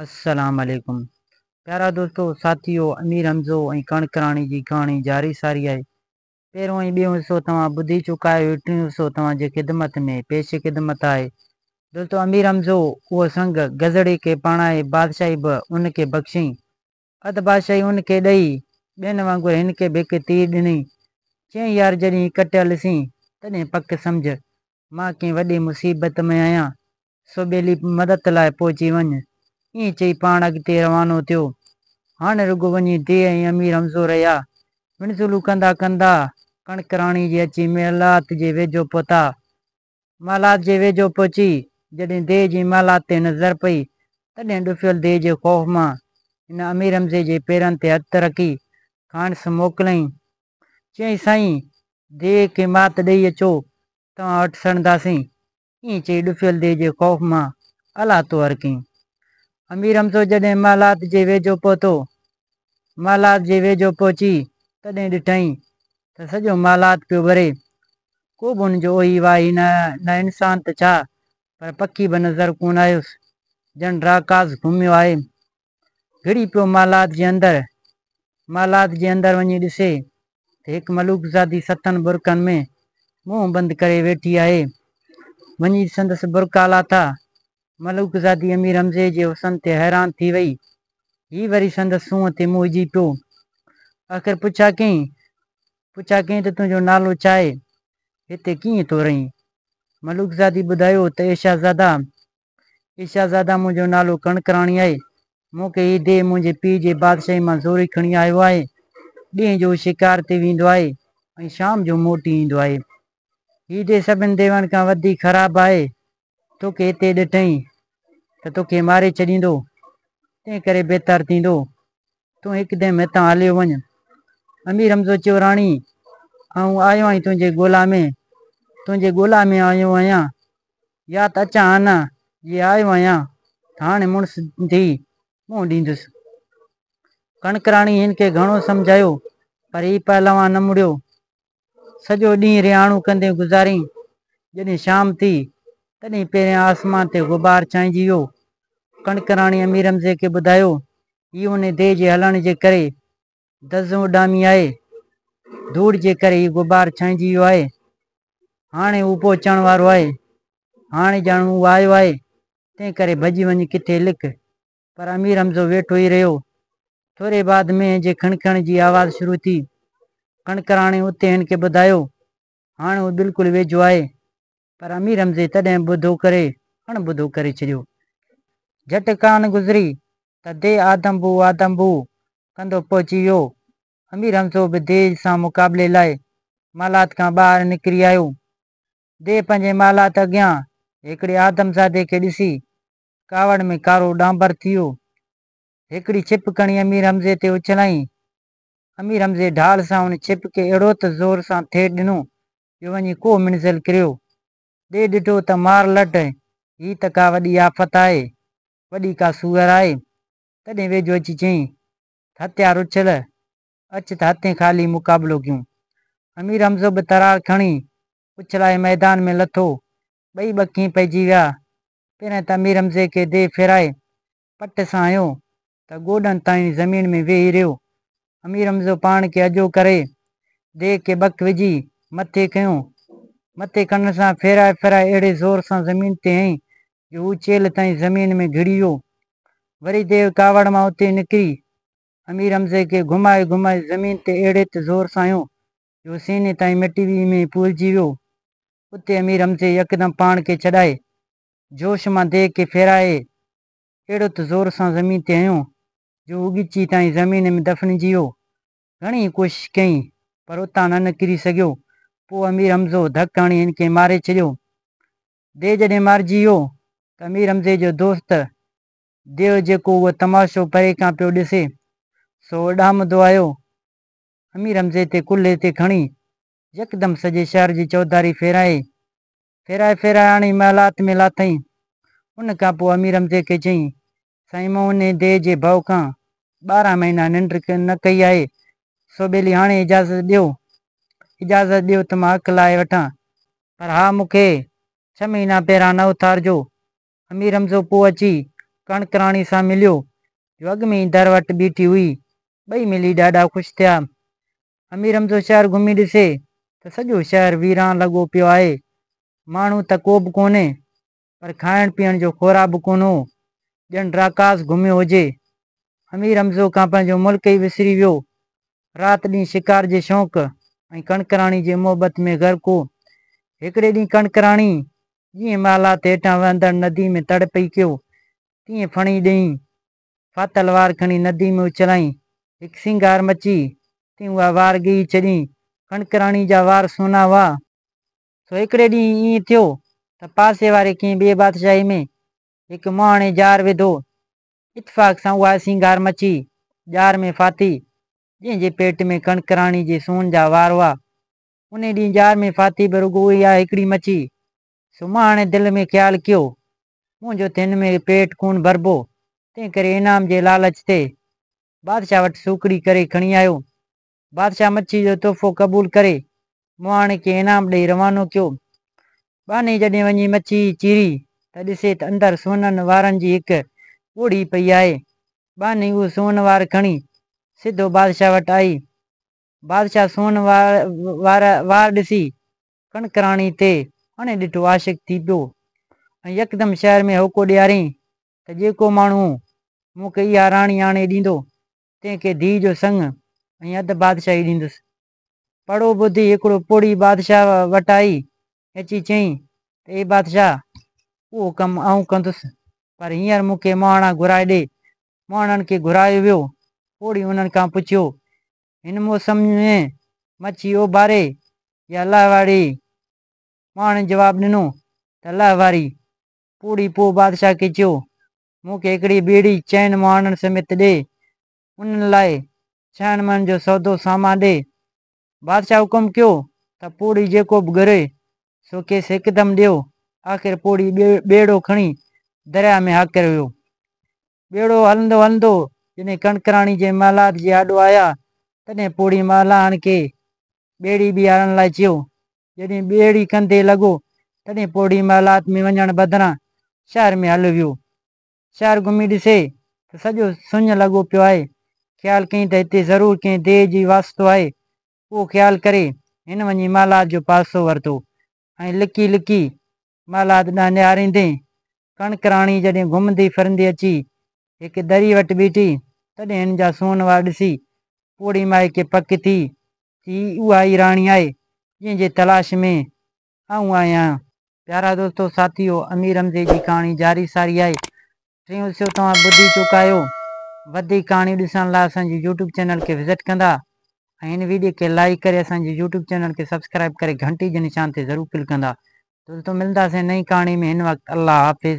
السلام عليڪم پيارا دوستو ساٿيو امير حمزو ۽ ڪڻڪ راڻي جي ڪهاڻي جاري ساري آهي پهريون ۽ ٻيون حصو توهان ٻڌي چڪا آهيو هي ٽيون حصو توهان جي خدمت ۾ پيش خدمت آهي دوستو امير حمزو اهو سنگ گزڙي کي پاڻائي بادشاهي به ان کي بخشيئين اڌ بادشاهي ان کي ڏئي، ٻين وانگر هن کي به هڪ تير ڏنئي. چيائين، يار جڏهن هي ڪٽيل سين، تڏهن پڪ سمجهه، مان ڪنهن وڏي مصيبت ۾ آهيان، سو ٻيلي مدد لاء پهچي وڃ. ائين چئي پاڻ اڳتي روانو ٿيو. هاڻ رڳو وڃي ديهه ۽ امير حمزو رهيا. وڻزولون ڪندا ڪندا، ڪڻڪ راڻي جي اچي محلات جي ويجهو پهتا. محلات جي ويجهو پهچي جڏهن ديهه جي محلات تي نظر پئي، تڏهن ڏڦيل ديهه جي خوف مان هن امير حمزي جي پيرن تي هٿ رکي کانئس موڪليائين. چيائين سائين! ديهه کي مات ڏئي اچو، توهان وٽ سڙنداسين. ائين چئي ڏڦيل ديهه جي خوف مان الاهتو هرکيائين. امير حمزو جڏهن محلات جي ويجهو پهتو، مالات جي ويجهو پهچي تڏهن ڏٺائين ته سڄو مالات پيو ٻري. ڪو به ان جو اوهي واهي نه آيو، نه انسان ته ڇا پر پکي به نظر ڪونه آيس، ڄڻ راڪاس گهميو آهي. گهڙي پيو مالات جي اندر. مالات جي اندر وڃي ڏسي ته هڪ ملوڪزادي ستن برقعن ۾ منهن بند ڪري ويٺي آهي. وڃي سندس برقعا لاٿا، ملوڪزادي امير حمزي جي حسن تي حيران ٿي وئي. هي وري سندس سونهن تي موهجي پيو. آخر پڇا ڪيائين پڇا ڪيائين ته تنهنجو نالو ڇا آهي؟ هتي ڪيئن ٿو رهين؟ ملوڪزادي ٻڌايو ته اي شهزادا! اي شهزادا منهنجو نالو ڪڻڪراڻي آهي. مون کي هي ديهه منهنجي پيء جي بادشاهي مان زوري کڻي آيو آهي. ڏينهن جو هو شڪار تي ويندو آهي ۽ شام جو موٽي ايندو آهي. هي ديهه سڀن ديون کان وڌيڪ خراب آهي. توکي هتي ڏٺئين ته توکي ماري ڇڏيندو، تنهن ڪري بهتر ٿيندو تون هڪدم هتان هليو وڃ. امير حمزو چيو، راڻي، آئون آيو آهين تنهنجي ڳولا ۾، تنهنجي ڳولا ۾ آيو آهيان، يا ته اچان ها نه، جي آيو آهيان ته هاڻي مڙس ٿي منهن ڏيندس. ڪڻڪراڻي هن کي گهڻو سمجهايو، پر هي پهلوان نه مڙيو. سڄو ڏينهن رهاڻو ڪندي گذاريائين. جڏهن شام ٿي، تڏهن پهريان آسمان تي غبار ڇانئجي ويو. ڪڻڪراڻي امير حمزي کي ٻڌايو، هي انهي ديهه جي هلڻ جي ڪري دزون اڏامي آهي. ڌوڙ جي ڪري هي غبار ڇانئجي ويو آهي. هاڻي هو پهچڻ وارو آهي. هاڻي ڄڻ هو آيو آهي، تنهن ڪري ڀڄي وڃ ڪٿي لڪ. پر امير حمزو ويٺو ئي رهيو. ٿوري بعد مينهن جي کڻکڻ جي آواز شروع ٿي. ڪڻڪراڻي اتي هن کي ٻڌايو، هاڻ هو بلڪل ويجهو آهي. پر امير حمزي تڏهن ٻڌو ڪري اڻ ٻڌو ڪري ڇڏيو. جهٽ ڪان گذري ته دي آدم بو آدم بو ڪندو پهچي ويو. امير حمزو به دي سان مقابلي لاء محلات کان ٻاهر نڪري آيو. دي پنهنجي محلات اڳيان هڪڙي آدمزادي کي ڏسي ڪاوڙ ۾ ڪارو ڏانڀر ٿيو. هڪڙي ڇپ کڻي امير حمزي تي اڇلائين. امير حمزي ڍال سان ان ڇپ کي اهڙو ته زور سان ٿيڙ ڏنو جو وڃي ڪوهه منزل ڪريو. ڏي ڏٺو ته مار لٽ، هي ته ڪا وڏي آفت آهي. وڏي ڪا سوئر آهي. تڏهن ويجهو اچي چيائين ته هٿيار اڇل، اچ ته هٿين خالي مقابلو ڪيون. امير حمزو به ترار کڻي اڇلائي ميدان ۾ لٿو. ٻئي ٻکين پئجي ويا. پهرئين ته امير حمزي کي ديهه ڦيرائي پٽ سان هنيو ته گوڏن تائين زمين ۾ ويهي رهيو. امير حمزو پاڻ کي اجهو ڪري ديهه کي ٻڪ وجهي مٿي کنيو. مٿي کڻڻ سان ڦيرائي ڦيرائي اهڙي زور سان زمين تي هنئي جو هو چيلهه تائين زمين ۾ گهڙي ويو. وري ديهه ڪاوڙ مان اتي نڪري امير حمزي کي گهمائي گهمائي زمين تي اهڙي ته زور سان هنيو جو سيني تائين مٽي ويهي ۾ پولجي ويو. اتي امير حمزي يڪدم پاڻ کي ڇڏائي، جوش مان ديڳ کي ڦيرائي، اهڙو ته زور سان زمين تي هنيو، جو اوڳچي تائين زمين ۾ دفنجي ويو. گهڻي ئي ڪوشش ڪيائين، پر اتان نه نڪري سگهيو. پوء امير حمزو ڌڪ هڻي هن کي ماري ڇڏيو. ديو جڏهن مارجي ويو، ته امير حمزي جو دوست ديو جيڪو اهو تماشو پري کان پيو ڏسي، سو اڏامندو آيو، امير حمزي تي ڪلهي تي کڻي، يڪدم سڄي شهر جي چوڌاري ڦيرائي، ڦيرائي ڦيرائي آڻي محلات ۾ لاٿائين. ان کان پوء امير حمزي کي چيائين، سائين مون انهيء ديهه جي ڀئو کان ٻارهن مهينا ننڊ نه ڪئي آهي، سو ٻيلي هاڻي اجازت ڏيو، اجازت ڏيو ته مان اک لاهي وٺان. پر ها مون کي ڇهه مهينا پهران نه اٿارجو، امير حمزو پوء اچي ڪڻڪ راڻي سان مليو، جو اڳ ۾ ئي در وٽ بيٺي هئي. ٻئي ملي ڏاڍا خوش ٿيا. امير حمزو شهر گهمي ڏسي ته سڄو شهر ويران لڳو پيو آهي. ماڻهو ته ڪوبه ڪونهي، پر کائڻ پيئڻ جو خورا به ڪونه هو، ڄڻ راڪاس گهميو هجي. امير حمزو کان پنهنجو ملڪ ئي وسري ويو. رات ڏينهن شڪار جي شوق ۽ ڪڻڪ راڻي جي محبت ۾ غرق هو. هڪڙي ڏينهن ڪڻڪ راڻي جيئن مالات هيٺان وهندڙ ندي ۾ تڙ پئي ڪيو، تيئن ڦڻي ڏينهين ڦاٿل وار کڻي ندي ۾ اڇلائين. هڪ سينگار مچي، تيئن اها وار ڳهي ڇڏين. ڪڻڪراڻيء جا وار سونا هئا، سو هڪڙي ڏينهن ائين ٿيو ته پاسي واري ڪنهن ٻيء بادشاهي ۾ هڪ مهاڻي ڄار وڌو. اتفاق سان اها سينگار مچي، ڄار ۾ ڦاٿي، جنهن جي پيٽ ۾ ڪڻڪراڻيء جي سون جا وار هئا، انهي ڏينهن ڄار ۾ فاتح به رڳو اها هڪڙي مڇي. سمهاڻي دل ۾ خيال ڪيو، منهنجو ته هن ۾ پيٽ ڪونه ڀربو، تنهنڪري انعام جي لالچ تي بادشاهه وٽ سوکڙي ڪري کڻي آيو. بادشاهه مڇي جو تحفو قبول ڪري مهاڻي کي انعام ڏئي روانو ڪيو. ٻانهي جڏهن وڃي مڇي چيري ته ڏسي ته اندر سونهن وارن جي هڪ ڳوڙهي پئي آهي. ٻانهي اهو سونهن وار کڻي سڌو بادشاهه وٽ آئي. بادشاهه سونهن وارا وار ڏسي ڪڻڪراڻي تي اڻي ڏٺو عاشق ٿي پيو ۽ يڪدم شهر ۾ هوڪو ڏيارين ته جيڪو ماڻهو مون کي اها راڻي آڻي ڏيندو، تنهن کي ڌيء جو سڱ ۽ اڌ بادشاهي ڏيندس. پڙهو ٻڌي هڪڙو پوڙهي بادشاهه وٽ آئي اچي چيائين ته اي بادشاهه! اهو ڪم آئون ڪندس، پر هينئر مون کي مهاڻا گهرائي ڏي. مهاڻن کي گهرايو ويو. پوڙهي انهن کان پڇيو، هن موسم ۾ مڇي اوڀاري يا لهواري؟ مهاڻن جواب ڏنو ته لهواري. پوڙهي پوء بادشاهه کي چيو، مون کي هڪڙي ٻيڙي چئن مهاڻن سميت ڏي. انهن لاء ڇهن مڻن جو سودو سامان ڏي. بادشاهه حڪم ڪيو ته پوڙهي جيڪو به گهري، سو کيس هڪدم ڏيو. آخر پوڙهي ٻيڙو کڻي درياء ۾ هاڪر ويو. ٻيڙو هلندو هلندو جڏهن ڪڻڪراڻي جي محلات جي آڏو آيا، تڏهن پوڙهي محلاڻ کي ٻيڙي بيهارڻ لاء چيو. جڏهن ٻيڙي ڪنڌي لڳو، تڏهن پوڙهي محلات ۾ وڃڻ بدران شهر ۾ هليو ويو. شهر گهمي ڏسي ته سڄو سڃ لڳو پيو آهي. خيال ڪيائين ته هتي ضرور ڪنهن ديهه جي واسطو آهي. اهو خيال ڪري هن وڃي محلات جو پاسو ورتو ۽ لڪي لڪي محلات ڏانهن نهاريندي ڪڻڪراڻي جڏهن گهمندي ڦرندي اچي هڪ دريء وٽ بيٺي تڏهن هن جا سونهن وار ڏسي پوڙهي مائي کي پڪ ٿي ته هي اها ئي راڻي آهي جنهن جي تلاش ۾ آئون آهيان. پيارا دوستو ساٿيو امير حمزي جي ڪهاڻي جاري ساري آهي ٽيون حصو توهان ٻڌي چڪا آهيو وڌيڪ ڪهاڻيون ڏسڻ لاء اسان جي يوٽيوب چينل کي وزٽ ڪندا ۽ هن ويڊيو کي لائيڪ ڪري اسان جي يوٽيوب چينل کي سبسڪرائيب ڪري گهنٽي جي نشان تي ضرور ڪلڪ ڪندا دوستو ملنداسين نئين ڪهاڻي ۾ هن وقت الله حافظ.